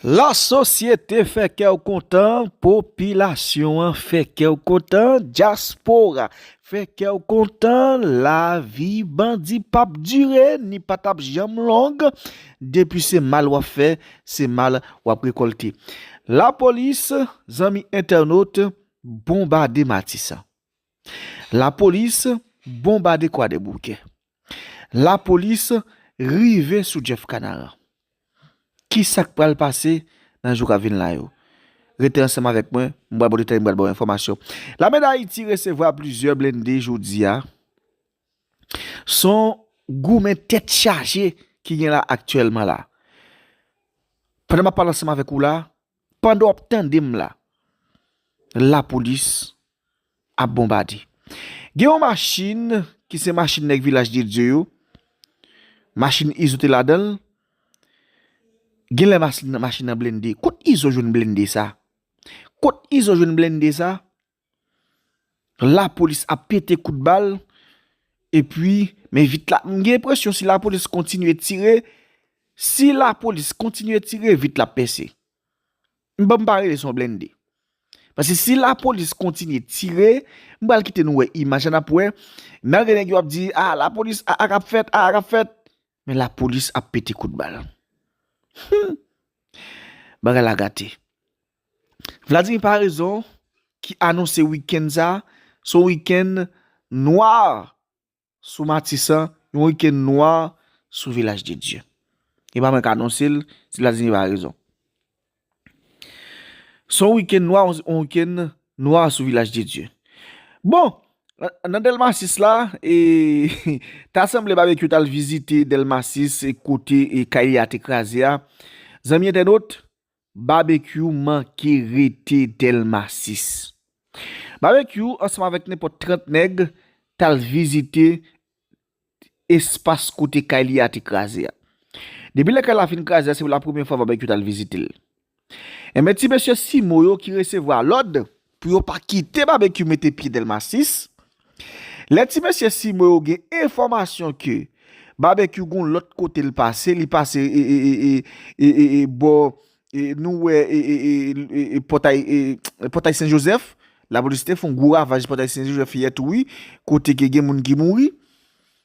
La sosyete fè kè w kontan, popilasyon an fè kè w kontan, dyaspora fè kè w kontan, lavi bandi p ap dire ni pa t ap janm long, depi se mal w ap fè, se mal w ap rekòlte. Lapolis, zanmi entènot, bonbade Matisan. Lapolis bonbade kwadeboukè. Lapolis rive sou Jeff Canaran. Kisa k pral pase nan jou k ap vin la yo? Rete ansanm avèk mwen, m pral ba w detay, m pral ba w enfòmasyon. Lame Dayiti resevwa plizyè blende jodi a. S on goumen tèt chaje ki gen la aktyèlman la. Pandan m ap pale ansanm avèk ou la, Pandan wap tandem la la polis ap bonbade gen yon machin ki se machin nèg vilaj de Dye yo machin izo te ladanl genlè machin nan blende kot izo jwenn blende sa kot izo jwenn blende sa La polis ap pete kout bal epi men vit la m gen enpresyon si la polis kontinye tire si la polis kontinye tire vit la ap pèse m banm pa rele son blennde pase si la polis kontinye tire m bal kite nou wè imaj an ap wè nan gen nèg yo ap di a la polis a a kap fèt a a kap fèt men la polis ap pete kout bal humm bagay la gate. Vladimir Paraison ki anonse wikenn sa se yon wikenn nwa sou Matisan, yon wikenn nwa sou Vilaj de Dye. E pa mwen k anonse l, se Vladimir Paraison. Se yon wikenn nwa, yon wikenn nwa sou Vilaj de Dye. Bon, nan Delma 6 la, e ta sanble Babekyou t al vizite Delma 6 kote kay li a te kraze a. Zanmi entènot, Babekyou manke rete delma 6. Babekyou ansanm avèk nenpòt 30 nèg tal vizite espas kote kay li a te kraze a. Depi lè kay la fin kraze a se pou la premye fwa babekyou tal vizitel. Enben ti mesye simo yo ki resevwa lòd Pou yo pa kite Babekyou mete pye Dèlma 6. Lè ti mesye si mwen yo gen enfòmasyon ke Babekyou gon lòt kote l pase, li pase e bò nou wè e pòtay pòtay Sen Jozèf, lapolis te fon gwo ravaj pòtay Sen Jozèf yè tou wi, kote ke gen moun ki mouri.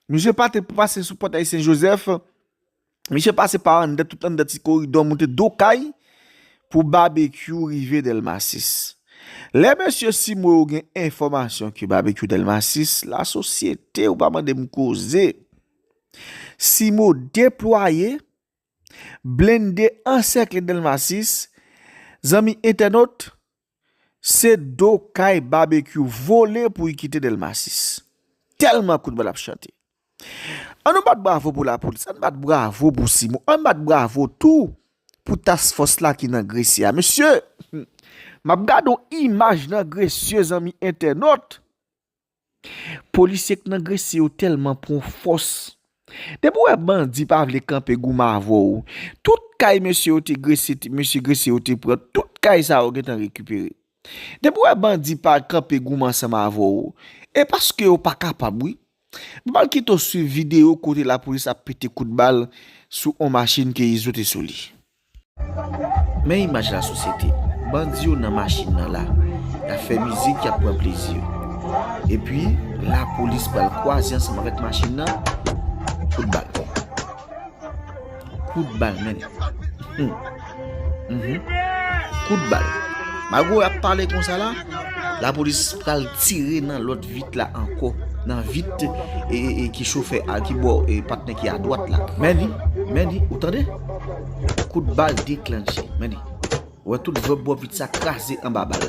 Misye pa te pase sou pòtay Sen Jozèf. Misye pase pa anndan tout anndan ti koridò moute do kay pou babekyou rive dèlma 6. Lè mesye si mwen ou gen enfòmasyon ke babekyou dèlma 6 la sosyete ou pa mande m koze si mwen ou deplwaye blende ansèkle dèlma 6 zanmi entènot Se do kay babekyou vole pou i kite delma 6. Telman kout bal ap chante. An nou bat bravo pou lapolis, an bat bravo pou simon, an bat bravo tou pou task fòs la ki nan gresye a. Mesye, m ap gade yon imaj nan gresye zanmi entènot. Polisye k nan gresi yo telman pwan fòs. Depi w wè bandi pa vle kanpe goumen avè w. Tout kay mesye yo te gresi mesye gresi yo te pran tout kay sa yo gentan rekipere. Depi w wè bandi pa kanpe goumen ansanm avè w. E paske yo pa kapab wi. M pral kite w swiv video kote lapolis ap pete kout bal sou on machin ke izo te sou li. Men imaj la sosyete. Bandi yo nan machin nan la. Y ap fè mizik, y ap pran plezi yo. Epi, lapolis pral kwaze ansanm avèk machin nan, kout bal. Kout bal men. Kout bal. Malgre y ap pale kon sa la, lapolis pral tire nan lòt vit la ankò. Nan vit ki chofè a, ki bò patnè ki a dwat la. Men li, men li, ou tande? Kout bal deklanche. Men li. Wè tout zòb bòpit sa kraze anba bal.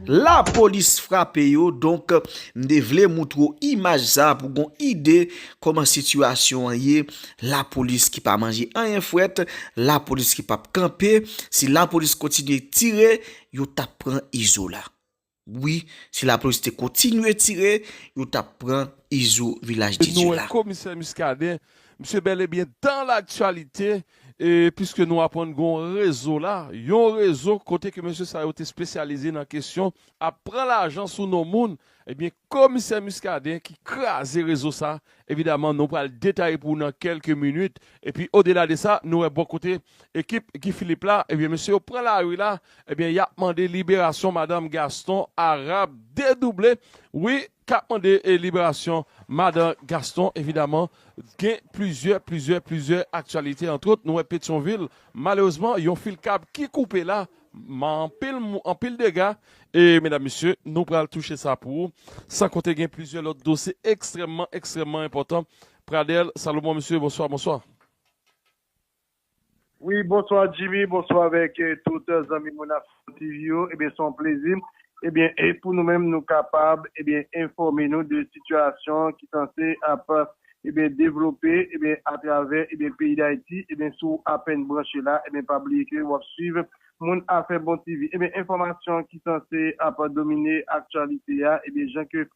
Lapolis frape yo. Donk, m te vle moutre w imaj sa pou gon ide kòman sitiyasyon an ye. Lapolis ki pa manje anyen frèt. Lapolis ki pap kanpe. Si lapolis kontinye tire, yo tap pran Izola. Wi si lapolis te kotinye tire yo tap pran izo vilaj de Dieu la. Komisè Muscadin, misye bel e byen dan laktyalite e piske nou aprann gon rezo la, yon rezo kote ke mesye sa yo te spesyalize nan kesyon ap pran lajan sou non moun, e byen komisè Muscadin ki kraze rezo sa Evidaman nou pral detaye pou ou nan kelke minit epi odela de sa nou wè bò kote ekip Guy Philippe la ebyen mesye yo pran lari la ebyen yap mande liberasyon madan Gaston Arab dedouble wi kap mande liberasyon madan Gaston evidaman gen plizyè plizyè plizyè aktyalite antwot nou wè Petyonvil malerezman yon fil kab ki koupe la Man anpil mou anpil dega e medam mesye nou pral touche sa pou ou san konte gen plizyè lòt dosye ekstrèmman ekstrèmman enpòtan Pradel Salomon mesye bonswa bonswa. Wi bonswa Jimmy bonswa avèk tout zanmi moun Afro TV yo ebyen son plezi ebyen pou nou menm nou kapab ebyen enfòme nou de sitiyasyon ki sanse ap Ebyen devlope ebyen atravè ebyen peyi dayiti ebyen si w apèn branche la ebyen pa bliye ke wap swiv moun afè bon TV ebyen enfòmasyon ki sanse ap domine aktyalite a ebyen jan ke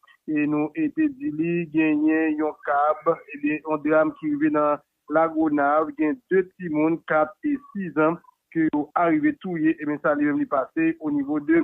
nou te di li genyen yon kab ebyen yon dram ki rive nan lagonav gen 2 timoun 4 e 6 ans ke yo arive touye ebyen sa li menm li pase onivo de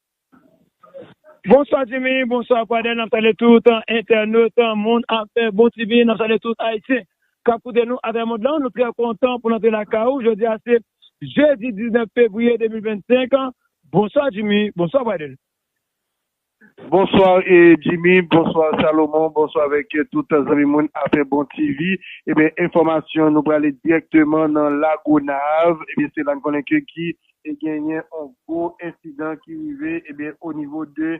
Bonswa Jimmy, bonswa Pradel, nap salye tout entènot, moun afè, bon TV, nap salye tout Ayisyen kap koute nou atravè mond lan, nou trè kontan pou nou antre lakay ou, jodi a se jedi 19 fevriye 2025, bonswa Jimmy, bonswa Pradel. Bonsoir Jimmy, bonsoir Salomon, bonsoir avèk tout zanmi moun afè bon TV, ebyen enfòmasyon nou prale dirèkteman nan la Gonave, ebyen se la n konnen ke ki te genyen on gwo ensidan ki rive ebyen o nivo de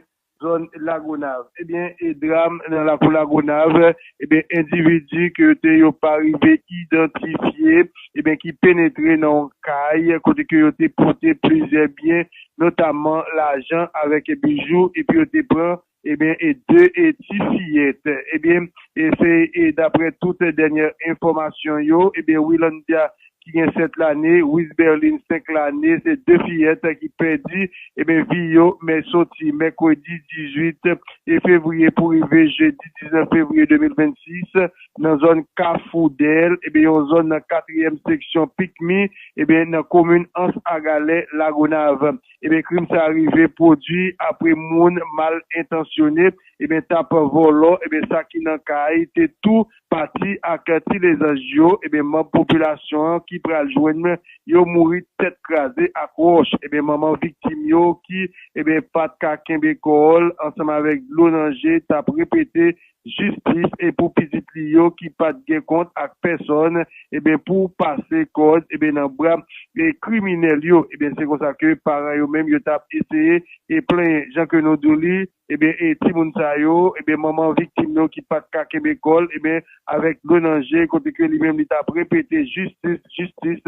zòn lagonav ebyen e dram nan lakou lagonav ebyen endividi ke yo te yo pa rive idantifye ebyen ki penetre nan on kay kote ke yo te pote plizyè byen notamman lajan avèk bijou epi yo te pran Ebyen e 2 e ti fiyèt. Ebyen e se e daprè tout dènyè enfòmasyon yo ebyen Willandia ki gen 7 lane, Wisberline 5 lane se 2 fiyèt ki pèdi ebyen vi yo men soti mèkredi 18 e fevriye pou rive jedi 19 fevriye 2026 nan zòn kafou dèl ebyen yon zòn nan katriyèm seksyon pikmi ebyen nan komin ans a galè lagonav. Ebyen krim sa rive pwodwi apre moun mal entansyone ebyen tap vòlò ebyen sa ki nan kay te tou pati ak ti lezanj yo ebyen manb popilasyon an ki pral jwenn yo mouri tèt kraze ak wòch ebyen manman viktim yo ki ebyen pat ka kenbe kò l ansanm avèk dlo nan je tap repete jistis e pou pitit li yo ki pat gen kont ak pèsòn ebyen pou pase kòd ebyen nan bra e kriminèl yo ebyen se konsa ke paran yo menm yo tap eseye e plenyen jan ke nou dou li ebyen e timoun sa yo ebyen manman viktim yo ki pat ka kenbe kòl ebyen avèk dlo nan je kote ke li menm li tap repete jistis jistis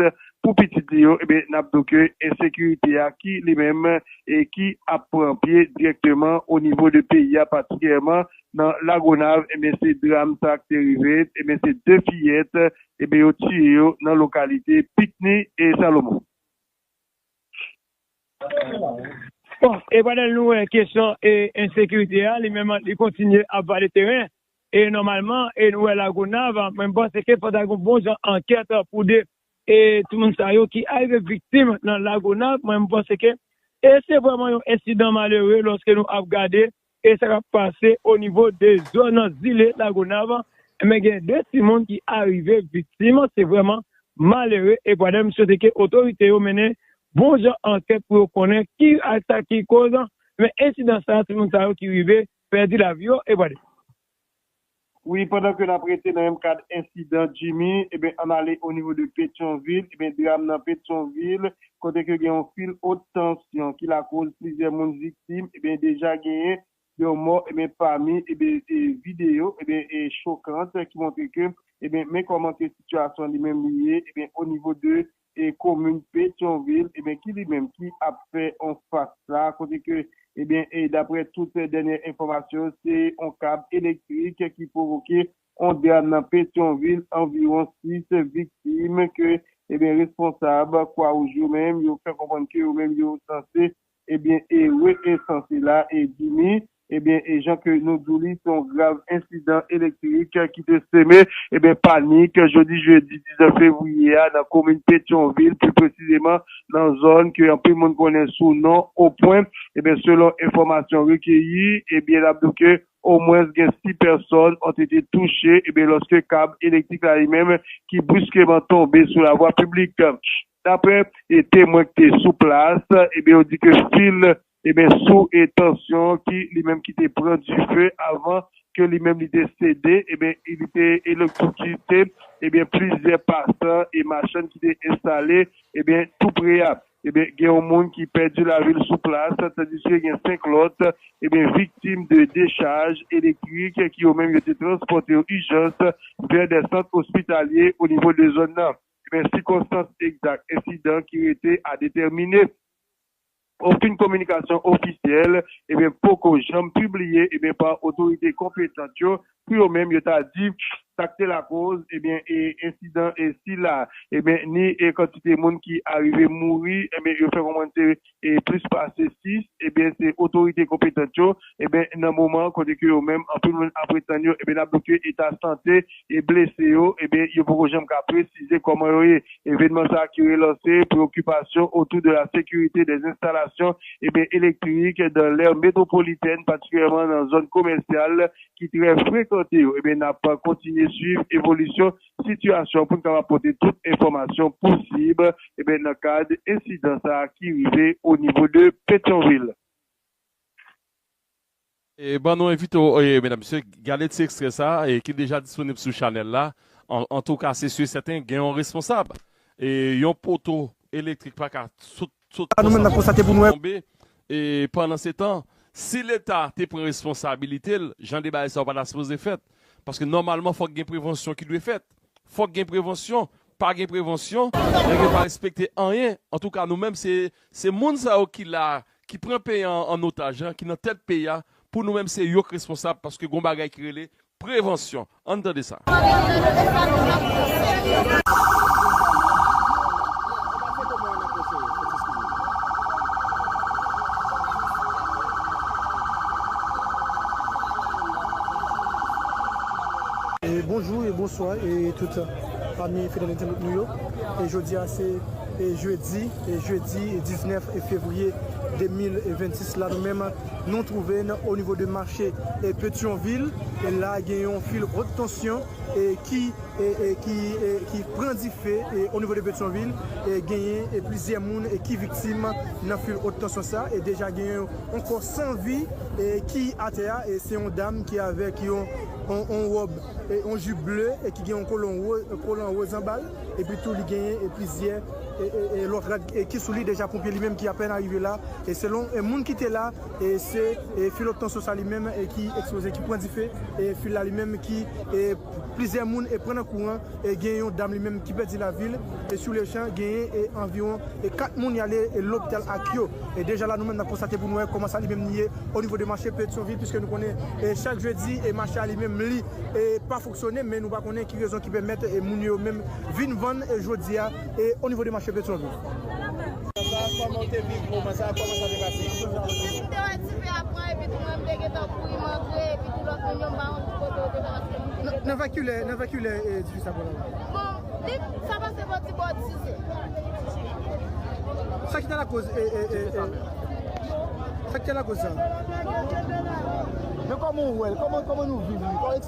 Pou pitit li yo, ebyen n ap di w ke ensekirite a ki li menm e ki ap pran pye dirèkteman o nivo de peyi a patikilyèman nan Lagonav, ebyen se dram sa k te rive, ebyen se 2 fiyèt ebyen yo tiye yo nan lokalite Pikni e Salomon. Bon, e pandan nou wè kesyon e ensekirite a li menm li kontinye ap vale teren e nòmalman e nou wè Lagonav, mwen m panse ke fò ta gen yon bon jan ankèt pou de E timoun sa yo ki arive viktim nan Lagonav, mwen m panse ke e se vrèman yon ensidan malere lòske nou ap gade e sa k ap pase o nivo de zòn nan zile Lagonav, enben gen 2 timoun ki arive viktim, se vrèman malere e pwade m swete ke otorite yo mennen bon jan ankèt pou yo konnen ki ak sa ki koz ensidan sa, timoun sa yo ki rive pèdi lavi yo e pwade. Wi pandan ke nap rete nan menm kad ensidan Jimmy ebyen ann ale o nivo de Petyonvil ebyen dram nan Petyonvil kote ke gen yon fil ot tansyon ki lakoz plizyè moun viktim ebyen deja genyen yon mò ebyen pami ebyen video ebyen chokant ki montre ke ebyen men kòman ke sitiyasyon li menm li ye ebyen o nivo de e komin Petyonvil ebyen ki li menm ki ap fè on fas la kote ke ebyen e daprè tout dènyè enfòmasyon se on kab elektrik ki pwovoke on dram nan Petyonvil anviwon 6 viktim ke ebyen responsab kwawouj yo menm yo fè konprann ke yo menm yo sanse Ebyen e we e san sila e Jimmy ebyen e jan ke nou diw li se yon grav ensidan elektrik ki te seme ebyen panik jodi jedi 19 fevriye a nan komin Petyonvil pli presizeman nan zòn ke anpil moun konnen sou non Opwen ebyen selon enfòmasyon rekeyi ebyen nap diw ke omwens gen 6 pèsòn ont ete touche ebyen lòske kab elektrik la li menm ki briskeman tonbe sou lavwa piblik. Daprè temwen ki te sou plas, ebyen yo di ke fil ebyen sou tansyon ki li menm ki te pran dife avan ke li menm li te sede ebyen li te elektrokite ebyen plizyè pasan e machann ki te enstale ebyen tou pre a. Ebyen gen yon moun ki pèdi lavi l sou plas tandiske gen 5 lòt ebyen viktim de dechaj elektrik ki yo menm yo te transpòte yo ijans vè dè sant ospitalye onivo de zòn nan. Ebyen sikonstans egzak ensidan ki rete a detèmine. Okenn kominikasyon ofisyèl ebyen poko janm pibliye ebyen pa otorite konpetant yo pou yo menm yo ta di sak te lakoz ebyen e ensidan e sila ebyen ni e kantite moun ki arive mouri ebyen yo fè konprann se e plis pase 6, ebyen se otorite konpetant yo, ebyen nan moman kote ke yo menm anpil moun ap ret tann yo, ebyen nap di ke eta sante e blese yo, ebyen yo poko janm ka presize kòman yo ye. Evenman sa ki relanse preokipasyon otou de la sekirite des enstalasyon, ebyen elektrik dan l'aire metropolitèn patikilyèman nan zòn komèsyal ki trè frekante yo, ebyen nap kontinye swiv evolisyon sitiyasyon pou n kapab pote tout enfòmasyon posib ebyen nan kad ensidan sa ki rive o nivo de Petyonvil. Bon nou envite w medam mesye gade ti ekstrè sa ki deja disponib sou chanèl la antouka se si e sèten gen yon responsab yon poto elektrik paka sot Tout konsantre sa yo tonbe. E pandansetan, si Leta te pran responsabilite l, jan de bagay sa yo pa ta sipoze fèt. Paske nòmalman fòk gen prevansyon ki dwe fèt. Fòk gen prevansyon. Pa gen prevansyon, nèg yo pa respekte anyen. Antouka nou menm se moun sa yo ki la, ki pran peyi an an otaj, ki nan tèt peyi a pou nou menm se yok responsab paske gon bagay ki rele prevansyon ann tande sa. Bonjou e bonswa e tout fanmi fidèl entènot nou yo e jodia se e jedi e jedi 19 fevriye 2026 la nou menm. Nou trouve n o nivo de mache Petyonvil, e la gen yon fil wot tansyon ki ki pran dife o nivo de Petyonvil, e genyen plizyè moun ki viktim nan fil wot tansyon sa, e deja genyen yon kò san vi ki atè a, e se yon dam ki avèk yon wòb, yon jip ble ki gen yon kolon woz anba l. Epi tou li genyen e plizyè e lòt rad e ki sou li deja ponpye li menm ki apèn arive la e selon e moun ki te la e se e fil obtansyon sa li menm e ki eksploze ki pran dife e fil la li menm ki e plizyè moun e pran nan kouran e gen yon dam li menm ki pèdi lavil e sou le chan genyen e anviwon e 4 moun y ale e lopital ak yo e deja la nou menm n ap konstate pou nou wè kòman sa li menm li ye o nivo de mache petyonvil piske nou konnen e chak jedi e mache a li menm li e pa Sone men nou pa konnen ki rezon ki pèmèt moun yo yo menm vin vann jodi a o nivo de mache Petyonvil. Nan vè kilè dife sa pral ale? Sa ki ta lakoz sa?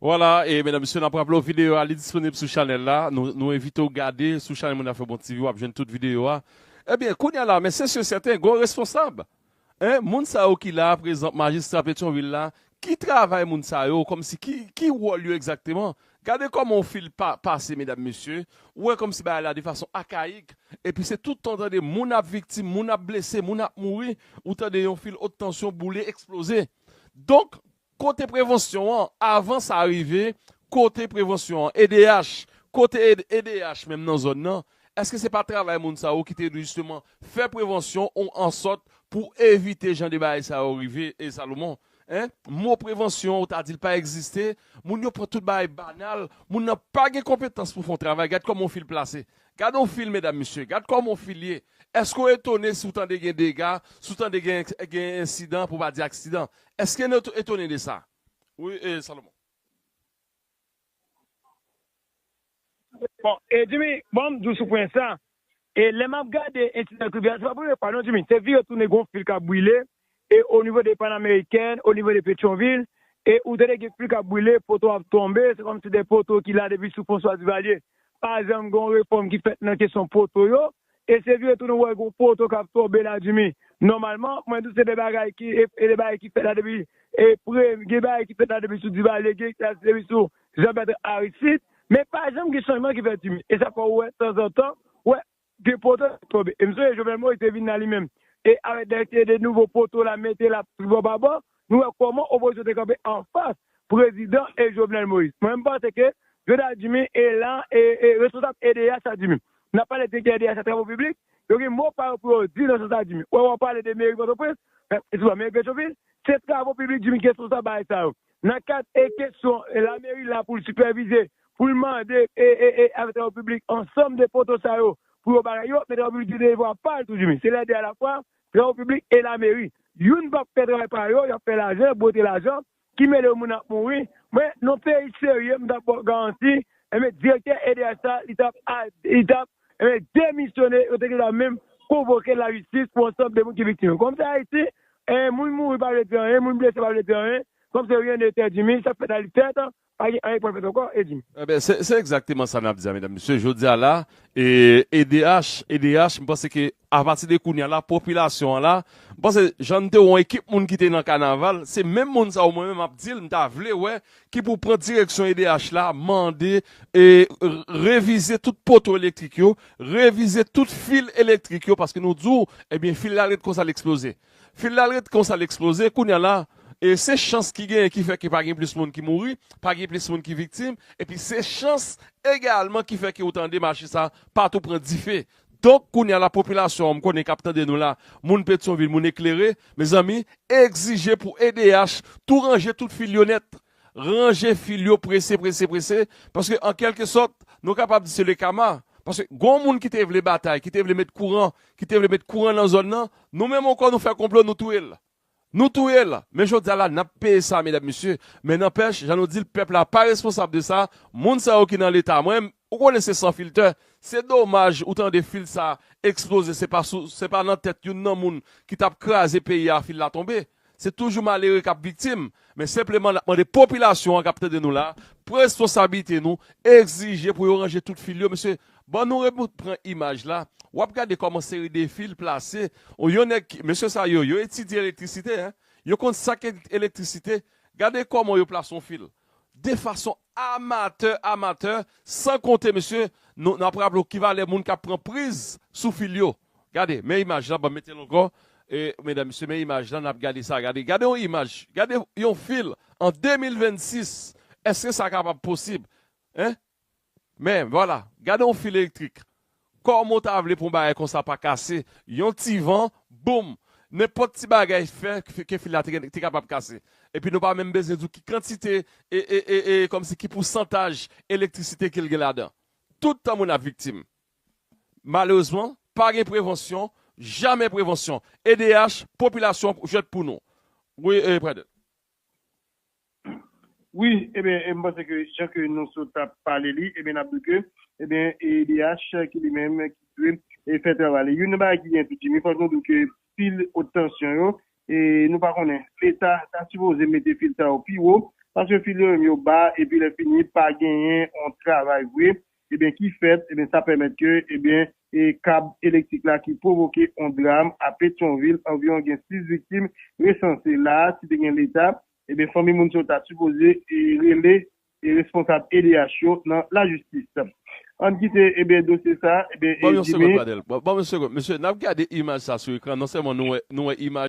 Voilà e medam mesye nap raple w video a li disponib sou chanel la nou envite w gade sou chanel moun afè bon TV wap jwenn tout video a ebyen kounya la men se sur sèten gon responsab hein moun sa yo ki la prezan majistra petyonvil la ki travay moun sa yo kòmsi ki wòl yo egzakteman gade kòman yon fil pase medam mesye ou wè kòmsi bagay la de fason akayik epi se tout tan tande moun ap viktim moun ap blese moun ap mouri ou tande yon fil ot tansyon boule eksplozee. Donk, kote prevansyon an, avan sa rive, kote prevansyon an? Edh, kote edh menm nan zòn nan? Eske se pa travay moun sa yo ki te dwe jisteman fè prevansyon ou ansòt pou evite jan de bagay sa yo rive e Salomon? Hein? Mo prevansyon an ou ta di l pa egziste, moun yo pran tout bagay banal, moun nan pa gen konpetans pou fè yon travay, gad kòman w fin l plase. Gad on fil medam mesye, gad kòman on fil ye, èske w etone si w tande gen dega, si w tande gen gen ensidan pou pa di aksidan? Èske n etone de sa? Wi e Salomon. Bon e Djimi, bon m di w sou pwen sa, e lè m ap gade ensidan tribinal, se pa premye fwa non Djimi, se vire tounen gen on fil k ap brile, e o nivo de Panameriken, o nivo de Petyon-Vil, e ou tande gen pli kap brile, poto ap tonbe, se kòmsi de poto ki la depi sou Fwanswa Divalye, pa janm gen yon refòm ki fèt nan kesyon poto yo, e se vire tou nou wè gen yon poto kap tonbe la Dimi, nòmalman, mwen di se de bagay ki, e de bagay ki fèt la depi, e pre, gen bagay ki fèt la depi sou Divalye, gen ki fèt depi sou Janbètran Aristid, men pa janm gen chanjman ki fèt Dimi, e sa fè ou wè tanzantan, ou wè Gen poto kap tonbe. E m sonje Jovenel Moïse te vin la li menm. E avèk dèyè se de nouvo poto la mete la tribò babò. Nou wè kòman opozisyon te kanpe anfas prezidan e Jovenel Moïse. Mwen m panse ke Jonah Jimmy e la e e responsab edh sa Jimmy. N ap pale direktè edh sa travo piblik. Yo gen mo pa yo pou yo di nan sans sa Jimmy. Wè wè w pale de meri pòtoprens. Mèm eswiman meri petyonvil. Se travo piblik Jimmy ki responsab bagay sa yo. Nan kad e kesyon lameri la pou l sipèvize, pou l mande e avèk travay piblik ansanm de poto sa yo pou yo bagay yo, men travay piblik gen devwa pa l tou di men se lè 2 a la fwa, travay piblik e lameri. Youn pa p fè travay pa yo, y ap fè lajan, bwote lajan, ki mele yo moun ap mouri. Mwen, nan peyi serye m t ap ba w garanti, enben direktè edh sa li t ap li t ap enben demisyone, yo te gentan menm konvoke lajistis pou ansanm de moun ki viktim yo. Kòm se Ayiti, 1 moun mouri pa vle di anyen, moun blese pa vle di anyen, kòm se rien n'était dit min, sa k fèt nan lit fèt, pa gen anyen k pral fèt ankò, e di. Enben, se egzakteman sa n ap di a, medam, mesye, jodi a la, edh, edh, m panse ke apati de kounye a la, popilasyon an la, m panse jan n te wè yon ekip moun ki te nan kanaval, se menm moun sa yo mwen menm m ap di l, m ta vle wè ki pou pran direksyon edh la mande revize tout poto elektrik yo, revize tout fil elektrik yo paske nou di w ebyen fil la ret konsa l eksploze. Fil la ret konsa l eksploze kounye a la se chans ki genyen ki fè ke pa gen plis moun ki mouri, pa gen plis moun ki viktim epi se chans egalman ki fè ke ou tande mache sa patou pran dife. Donk kounye a la popilasyon an m konnen k ap tande nou la, moun Petyonvil, moun eklere, mezanmi, egzije pou edh tou ranje tout fil yo nèt. Ranje fil yo prese prese prese, paske an kèlke sòt, nou kapab di se le kama, paske gon moun ki te vle batay, ki te vle met kouran, ki te vle met kouran nan zòn nan, nou menm ankò nou fè konplo nou touye l. Nou touye l, men jodi a la n ap peye sa medam mesye, men nanpèch jan nou di l pèp la pa responsab de sa, moun sa yo ki nan leta mwen ou konnen se san filtè, se domaj ou tande fil sa eksploze se pa sou se pa nan tèt youn nan moun ki t ap kraze peyi a fil la tonbe, se toujou malere k ap viktim, men senpleman n ap mande popilasyon an k ap tande nou la presponsabilite nou egzije pou yo ranje tout fil yo mesye, Bon nou reboot pran imaj la wap gade kòman seri de fil plase ou yon nèg ki mesye sa yo yo etidye elektrisite hein yo konn sak elektrisite gade kòman yo plase yon fil de fason amatè amatè san konte mesye nou nap raple w ki valè moun kap pran priz sou fil yo gade men imaj la banm mete l ankò medam mesye men imaj la nap gade sa gade gade yon imaj gade yon fil an 2026 eske sa kapab posib hein. Men, vwala, gade yon fil elektrik. Kòman w ta vle pou yon bagay konsa pa kase? Yon ti van, boum! Nenpòt ti bagay fè ke fil la te kapab kase. Epi nou pa menm bezwen di w ki kantite, e kòmsi ki pousantaj elektrisite ke l gen ladan. Tout tan moun ap viktim. Malerezman, pa gen prevansyon, jamè prevansyon. Edh, popilasyon jwèt pou nou. Wi, Predet. Wi ebyen m panse ke jan ke nou sot ap pale li ebyen nap di ke ebyen e edh ki li menm ki dwe e fè travay li youn nan bagay ki gen tou Jimmy fòk nou di ke fil ot tansyon yo e nou pa konnen leta ta sipoze mete fil sa yo pi wo paske fil yo menm yo ba epi lè fini pa genyen yon travay vre ebyen ki fèt ebyen sa pèmèt ke ebyen e kab elektrik la ki pwovoke yon dram a petyonvil anviwon gen 6 viktim resanse la si te gen leta Ebyen fanmi moun sa yo ta sipoze rele responsab edh yo nan lajistis. Ann kite ebyen dosye sa ebyen Jimmy. Bon yon segond Pradel. Bon yon segond. Mesye nap gade imaj sa sou ekran non sèlman nou wè nou wè imaj.